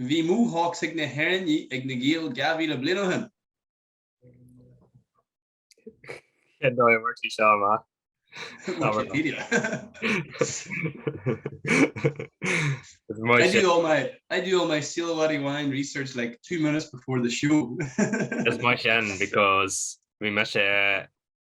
Bhí Mohawks ag na hÉireannaigh ag na Gaeil 2,000 bliain ó shin. Cé dóigh mar tí seo má? Wikipedia. I do all my I do all my Silawari wine research like two minutes before the show. It's my shin because we miss it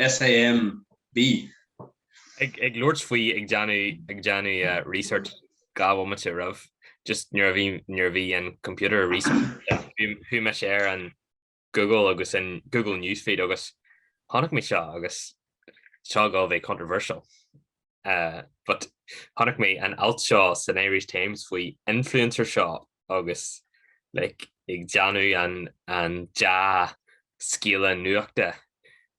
S.A.M. B. Ag labhairt faoi ag déanamh research dhá bhomaite roimh just nuair a bhí nuair a bhí an computer research chuaigh mise ar an Google agus an Google Newsfeed agus chonaic mé seo agus seo ag gabháil a bheith controversial. Uh, but chonaic mé an alt seo san Irish Times faoin influencer seo agus like, ag déanamh an, an dea-scéala nuachta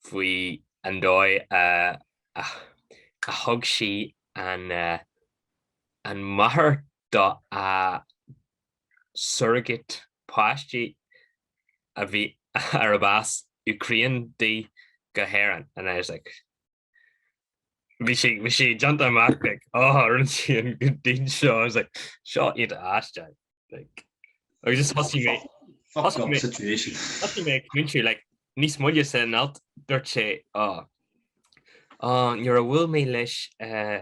faoi an dóigh a, a, a thug sí an, uh, an máthair do a surrogate páistí a bhí ar a bás Ukraine dí go hÉirinn. And I was like, bhí sé bhí sé déanta amach like á rinne sí an good deed seo I was like seo iontach aisteach like agus is thosaigh mé thosaigh mé situation thosaigh mé commentary like níos moille san alt dúirt sé á á nuair a bhuail mé leis uh,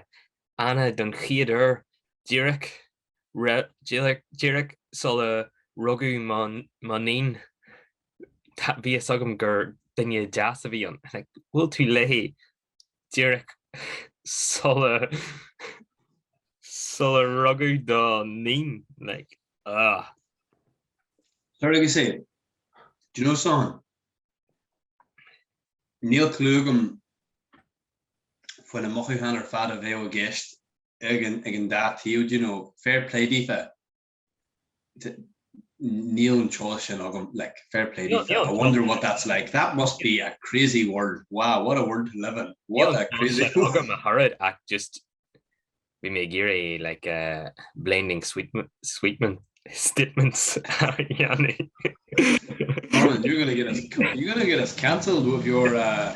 Anna don chéad uair díreach Díreach sula rugadh mo níon, bhí fhios agam gur duine deas a bhí ann. Bhuail tú léi díreach sula rugadh do níon. Tar agus éist. Do you know so níl clue agam faoi na mothúcháin ar fad a bheadh i gceist. ag an dá taobh de nó fair play daofa níl an teolas sin agam like fair play no, no, I wonder no, what that's like that must be a crazy word wow what a word to live in what a crazy program a horrid act just we may gear a like uh blending sweetman sweetman statements you're gonna get us you're gonna get us cancelled with your uh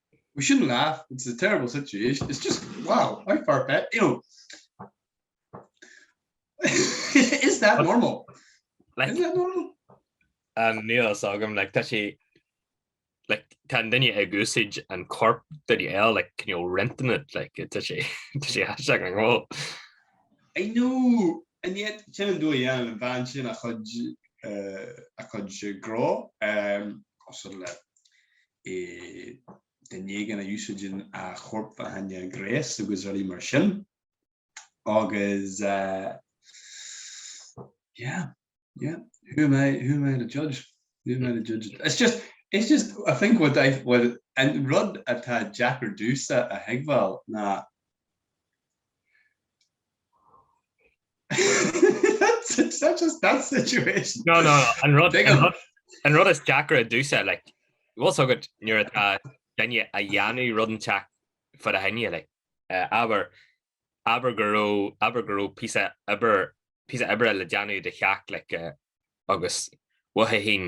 We shouldn't laugh, it's a terrible situation, it's just, wow, how far-fetched, you know, is that normal? Like, is that normal? Um, níl fhios agam, like, tá sé, like, tá an duine ag úsaid an corp duine eile, like, kind of renting it, like, tá sé, tá sé aisteach go leor. I know, and yet, sin an dóigh a ndéanann an bhean sin a cuid, uh, a cuid gnó, um, cosúil le, uh duine éigin a úsáideann a chorp fá choinne gnéas agus rudaí mar sin agus yeah yeah who am I who am I to judge who am I to judge it's just it's just I think what I what an rud atá deacair domhsa a thuigbheáil ná An rud is deacra domhsa, like, bhfuil fhios agat nuair atá duine ag déanamh rud inteacht fá do choinne, like, abair, abair go raibh, abair go raibh píosa oibre, píosa oibre le déanamh i do theach, like, agus uathu féin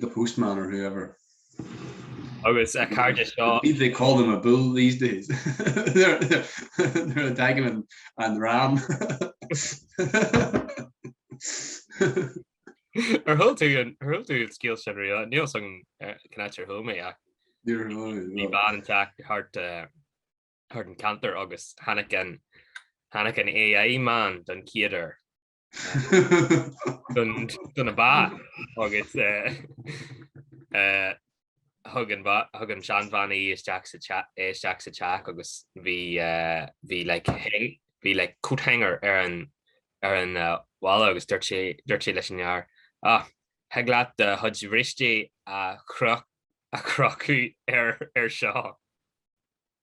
the postman or whoever. Agus a chairde seo. I believe they call them a bull these days. nuair a dtagann an dream. Ar chuala tú an scéal sin riamh? Níl fhios agam cén áit ar chuala mé é. Níor chuala mé. Bhí bean ag teacht thart an ceantar agus tháinig an AI man don chéad uair. do na ba agus thug an seanbhean é isteach sa teach agus bhí bhí like bhí like coat hanger ar an ar an bhalla agus dúirt sé dúirt sé leis an fhear ach thig leat do chuid bhristí a chrochadh ar ar seo.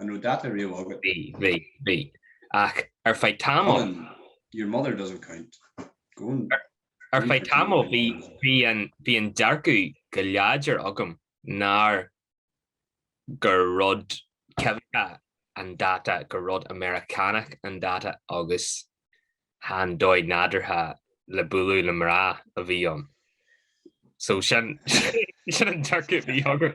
An raibh dáta riamh agat? Bhí, bhí, bhí. Ach ar feadh tamall. Colin, your mother doesn't count. Go on. Ar, ar feadh tamall bhí bhí an bhí an dearcadh go láidir agam nár gur rud coimhthíoch an dáta gur rud Meiriceánach an dáta agus chan dóigh nádúrtha le bualadh le mná a bhí ann. So sin sin an dearcadh bhí agam.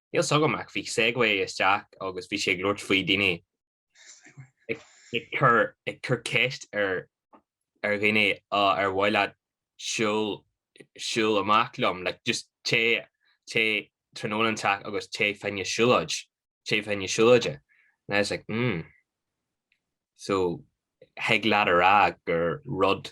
Níl 's agam ach bhí segue isteach agus bhí sé ag labhairt faoi daoine ag cur ceist ar dhuine ar mhaith leat siúl amach liom, like just téigh tráthnóna inteacht agus téigh fá choinne siúlóid, téigh fá choinne siúlóide. And I was like hmm. So thig leat a rá gur rud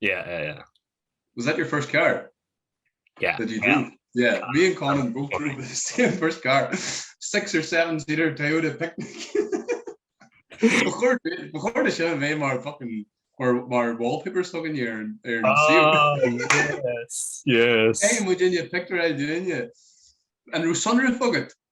Yeah yeah yeah. Was that your first car? Yeah that you drove? Yeah yeah me and Conan both drove the same first car six or seven seater Toyota picnic Ba chóir ba chóir do sin a bheith mar fucking mar mar wallpapers againne ar an ar an saol Ah yes yes. Caithfidh muid éinne pictiúr eile de dhuine. An raibh sonrach agat?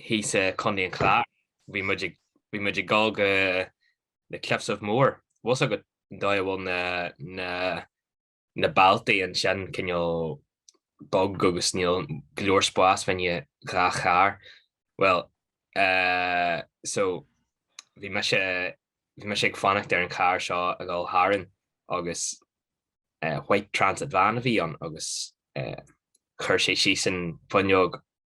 thíos i Co. an Chláir. Bhí muid ag bhí muid ag dul go na Cliffs of Moher. Bhfuil 's agat an dóigh a bhfuil na na na bealtaí ansin cineál beag agus níl go leor spás fá choinne dhá charr. Bhuel eh so bhí mise bhí mise ag fanacht ar an charr seo a dhul tharainn agus eh white transit van a bhí ann agus eh chuir sé síos an fuinneog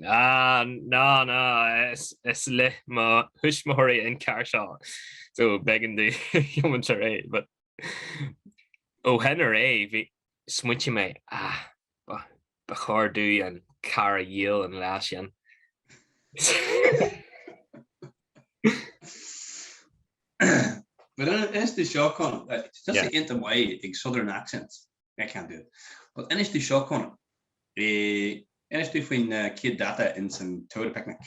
Ná, ná, is le mo thuismitheoirí an carr seo, so b'éigean domh tiomáint ar aghaidh. But ó shin ar aghaidh, bhí, smaointigh mé, ah, ba chóir domh an carr a dhíol an lá sin. But inis tú seo, Conall, tá sé iontach maith ag southern accents. I can't do it. But inis tú seo, Conan. Eh, inis tú faoin eh, chéad dáta ins an Toyota Picnic.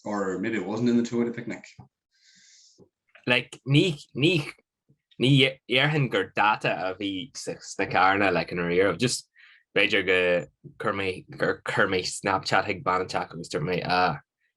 Or maybe it wasn't in the Toyota Picnic. Like, ní, ní, ní dhéarfainn gur dáta a bhí sa- sna carranna, like, ní raibh, just b'fhéidir gur chuir mé, gur chuir mé Snapchat ag bean inteacht agus dúirt mé, ah,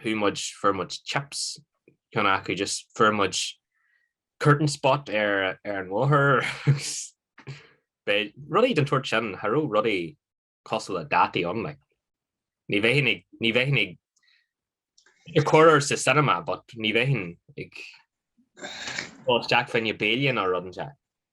chuaigh muid, fuair muid chips, ceann acu just fuair muid courting spot ar an bhóthar agus beidh rudaí den tsórt sin, cha raibh rudaí cosúil le dátaí ann like. Ní bheinn ag, ní bheinn ag, corruair sa cinema but ní bheinn ag dul isteach fá choinne béile nó rud inteacht.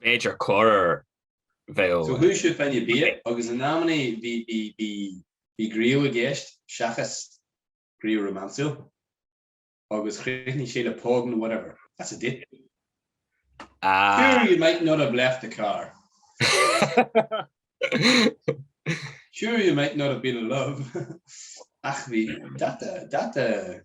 b'fhéidir corruair bheadh. So chuaigh siad fá choinne bia agus in amannaí bhí, bhí, bhí, bhí grá i gceist seachas grá rómánsúil agus chríochnaigh sé le póg nó whatever. That's a date. Sure you might not have left the car. Sure you might not have been in love. Ach bhí, that, that,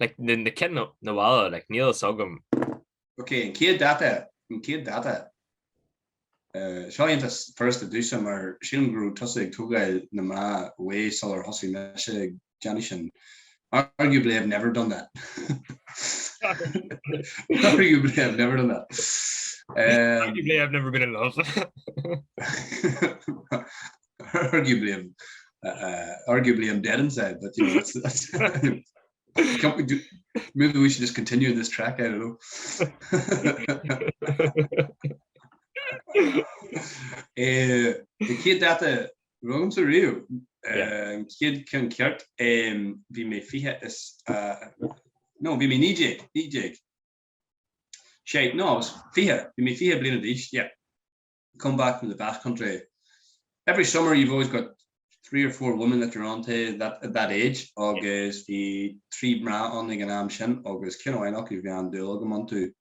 Like, na, na cinn na, na bhalla, like, níl a fhios agam. Ok, an chéad dáta, an chéad dáta. Uh, seo iontach furasta domhsa mar sílim go raibh tusa ag tógáil na mná away sular thosaigh mise ag déanamh sin. Arguably I've never done that. Arguably I've never done that. Um, Arguably I've never been in love. arguably I'm arguably I'm dead inside but you know that's that's maybe we should just continue in this track I don't know eh, an chéad dáta uh, a raibh agamsa riamh chéad cheann ceart bhí mé fiche is nó bhí mé naoi déag naoi déag shite no I was fiche bhí mé fiche bliana d'aois come back from the Basque country. Every summer you've always got three or four women that you're on to that at that age agus bhí trí mná on the go ag an am sin agus ceann amháin acu bhí an-dúil agam iontu.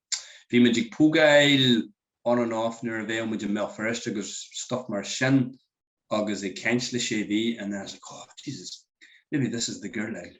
Bhí muid ag pógáil on and off nuair a bheadh muid i mBéal Feirste agus stuff mar sin agus ag caint le sé mhí and then I was like oh Jesus, maybe this is the girl, like.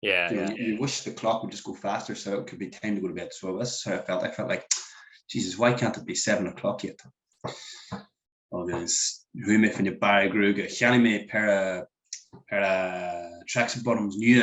Yeah, you know, yeah. you wish the clock would just go faster so it could be time to go to bed. So that's how I felt. I felt like, Jesus, why can't it be seven o'clock yet? agus hu me fan je bare groeg ga me per eh, per eh, tracks bottoms nu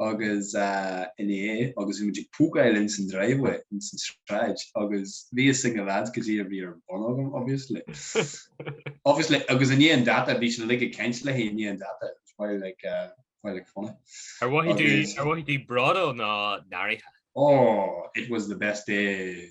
agus i ndiaidh agus bhí muid ag pógáil ins an driveway ins an sráid agus bhí a fhios ag na lads cad é a bhí ar bun agam obviously obviously agus i ndiaidh an dáta bhí siad uilig ag caint léi i ndiaidh an dáta it was very like very like funny. Ar mhothaigh tú ar mhothaigh tú bródúil nó náirithe? Oh it was the best day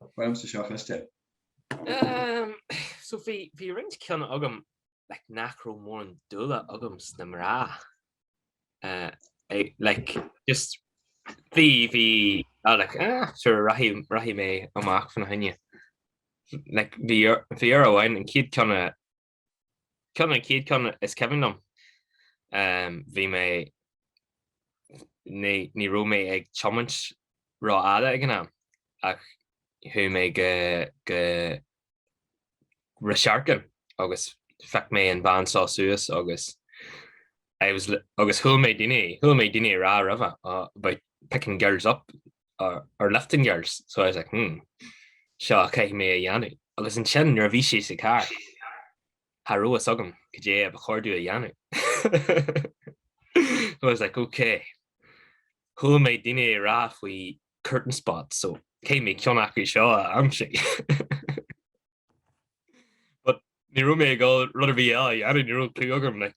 Tá foirm sa seo cliste. So bhí bhí roinnt ceann agam like nach raibh mórán dúil agam sna mná eh like just bhí bhí ah like eh sure rachaidh rachaidh mé amach fána choinne like bhí bhí uair amháin an chéad cheann a Ceann an chéad ceann is cuimhin liom bhí mé ní ní raibh mé ag tiomáint ró fhada ag an am ach chuaigh mé go go Rasharkin agus phioc mé an bhean seo suas agus I was agus chuala mé daoine chuala mé daoine a rá roimhe about picking girls up or, or lifting girls. So I was like, hmm, seo a caithfidh mé a dhéanamh. Agus ansin, nuair a bhí sí sa carr, cha raibh a fhios agam caidé ba chóir domh a dhéanamh. so I was like, ok. Chuala mé daoine ag rá faoi courting spots, so caithfidh mé ceann acu seo a aimsiú. But ní raibh mé ag dul rud ar bith eile a dhéanamh, ní raibh clue agam, like,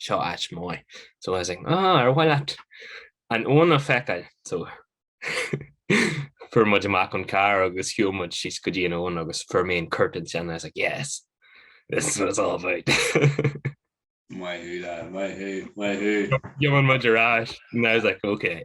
seo áit mhaith. So I was like, ah, ar mhaith leat an abhainn a fheiceáil? So fuair muid amach ón carr agus shiúil muid síos go dtí an abhainn agus fuair mé an courting sin. I was like, yes, this is what it's all about. Maith thú, lad, maith thú, maith thú. Thiomáin muid ar ais. And I was like, okay.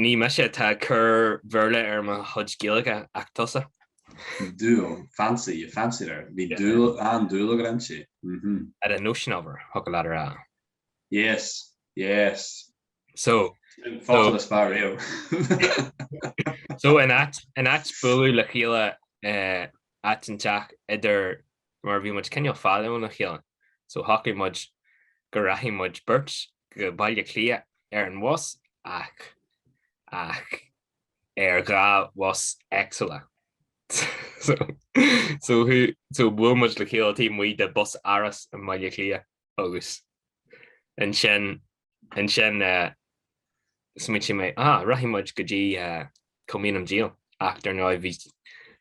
Ní mise atá ag cur Bhéarla ar mo chuid Gaeilge ach tusa. Dúil, fancy, you fancied her. Bhí dúil, an-dúil agat inti. Mhm. Had a notion of her, thiocfadh leat a rá. Yes, yes. So, Fáilte le spá riamh. so in áit, in áit bualadh le chéile eh, áit inteacht idir mar bhí muid cineál fada óna chéile so shocraigh muid go rachaidh muid beirt go Baile Átha Cliath ar an bhus ach ach ar dhá bhus éagsúla so so so bhuail muid le chéile taobh amuigh de Busáras i mBaile Átha Cliath. agus ansin ansin smaoitigh mé á rachaidh muid go dtí Kilmainham Gaol ach dar ndóigh bhí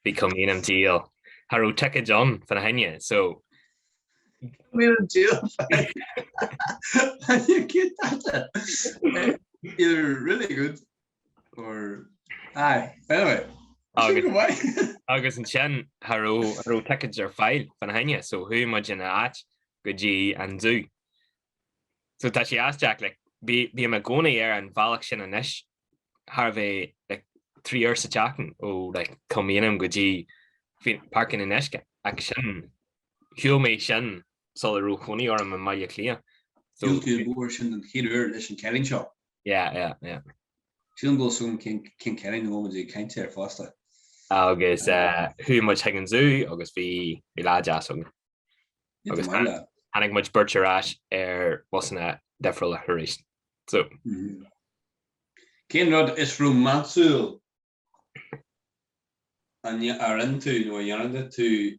bhí Kilmainham Gaol cha raibh ticéid ann fána choinne so Kilmainham Gaol fána choinne cute that is really good Or aye. Anyway. Agus ansin cha raibh ticéid ar fáil fána choinne so chuaigh muid ina áit go dtí an zú. So tá sé aisteach like bím i gcónaí ar an bhealach sin anois chóir a bheith like trí uair sa tseachtain ó like Kilmainham go dtí Páirc an Fhionnuisce ach sin shiúil mé sin sula raibh cónaí orm i mBaile Átha Cliath. So. Shiúil tú an uair sin an chéad uair leis an cailín seo. Yeah, yeah, yeah. Sílim go bhfuil a fhios agam cén cailín a bhfuil muid ag caint air fosta. Agus chuaigh muid chuig an zú agus bhí lá deas againn. Agus tháinig muid beirt ar ais ar bhusanna difriúla arís. So. Cén rud is rómánsúil An ndearna tú nó an ndearna tú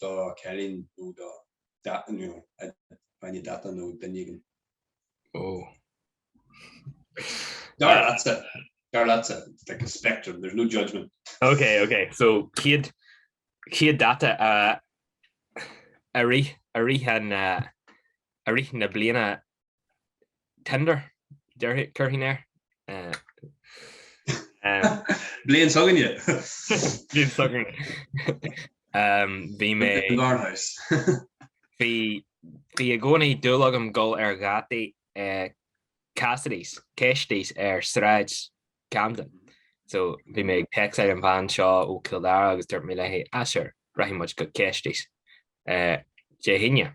do chailín nó do dháta nó duine éigin? Oh. Dar leatsa. Dar leatsa. It's like a spectrum. There's no judgment. Okay, okay. So céad dáta a a rí a rí an a rí na bliana Tinder, cuirtear air. Bliain s'againne. Bliain s'againne. Bhí mé. In the garden house. Bhí i gcónaí dúil agam dul ar dhátaí i Cassidy's, Cassidy's, ar Sráid Camden. So bhí mé ag text ar an bhean seo ó Cill Dara agus dúirt mé léi, ah sure, rachaidh muid go Cassidy's Dé hAoine.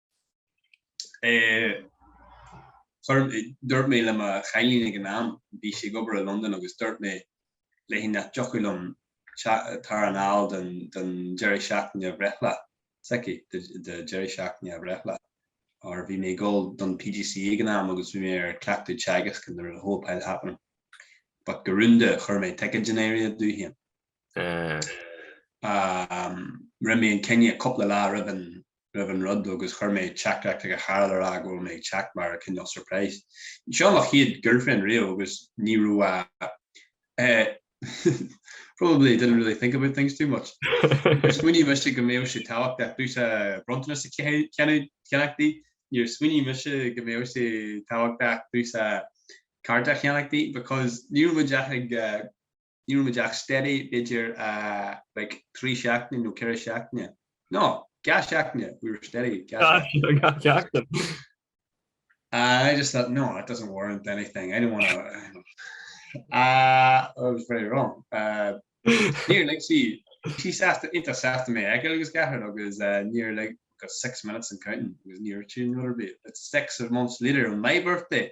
Dúirt mé le mo chailín ag an am, bhí sí ag obair i Londain, agus dúirt mé léi nach dtiocfadh liom tar anall don deireadh seachtaine bhreithlá s'aici, do deireadh seachtaine a bhreithlá, óir bhí mé ag dul don PGCE ag an am agus bhí mé ar cleachtadh teagasc nuair a whole pile happening. But go rúnda, chuir mé ticéad in áirithe domh féin. Rinne mé an cinneadh cúpla lá roimh an raibh an rud agus chuir mé teachtaireacht chuig a cara le rá go bhfuil mé ag teacht mar cineál surprise. Seo mo chéad girlfriend riamh agus ní raibh a eh probably didn't really think about things too much. Níor smaoinigh mise go mbeadh sé tábhachtach dúinne bronntanas a cheannach di, níor smaoinigh mise go mbeadh sé tábhachtach dúinne cárta a cheannach di because ní raibh muid ach ag Ní raibh muid ach steady b'fhéidir like trí seachtaine nó ceithre seachtaine. No! Dhá seachtaine! We were steady dhá seachtaine. Dhá sheachtain. And I just thought, no, that doesn't warrant anything, I don't want to, ah, I was very wrong. Níor lig sí, bhí sí sásta, iontach sásta mé a fheiceáil go leor agus níor lig, got six minutes and counting, agus níor lig sí uirthi rud ar bith. It's six months later on my birthday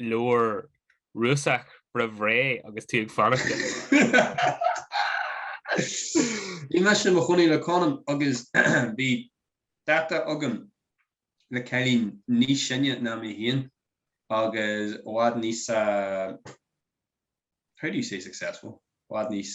leabhar Rúiseach roimh ré agus tú ag fanacht le Bhí mise i mo chónaí le Conan agus bhí dáta agam le cailín níos sine ná mé féin agus i bhfad níos how do you say successful? i bhfad níos.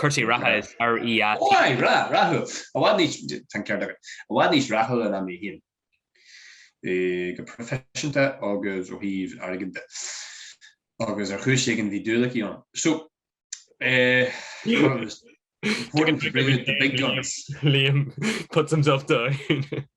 Cúrsaí reatha is fhearr R-E-A-T. Why? Rath! Rathúil! I bhfad níos, tá an ceart agat, i bhfad níos rathúla ná mé féin, go proifisiúnta agus ó thaobh airgid de. Agus ar chúis éigin bhí dúil aici ionam. So, eh, important to bring in the big guns. Liam puts himself down.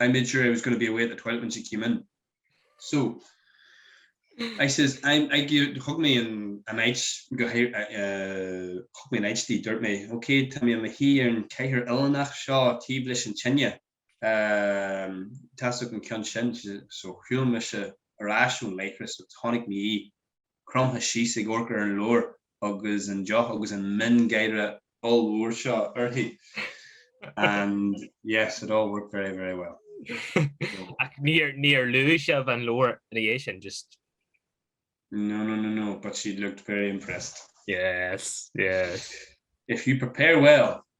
I made sure I was going to be away at the toilet when she came in. So, I says, I'm, I gave, thug mé an, an áit, go hé, uh, thug mé an áit di, dúirt mé, OK, tá mé i mo shuí ar an chathaoir uilleannach seo taobh leis an tine, um, tá a fhios agat an ceann sin, so shiúil mise ar ais ón leithreas agus chonaic mé í. cromtha síos ag amharc ar an leabhar agus an deoch agus an miongháire ollmhór seo uirthi and yes it all worked very very well. Ach níor níor luaigh sibh an leabhar ina dhiaidh sin just No no no no but she looked very impressed. Yes yes. If you prepare well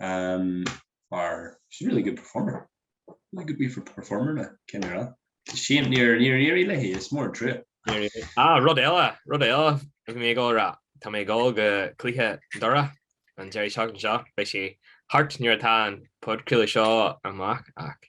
mar she's a really good performer really good wee performer na cén ar fad it's a shame níor níor éirigh léi is mór an trua. Níor éirigh. Ah rud eile rud eile bhí mé ag dul a rá tá mé ag dul go cluiche Doire an deireadh seachtaine seo beidh sé thart nuair atá an podchraoladh seo amach ach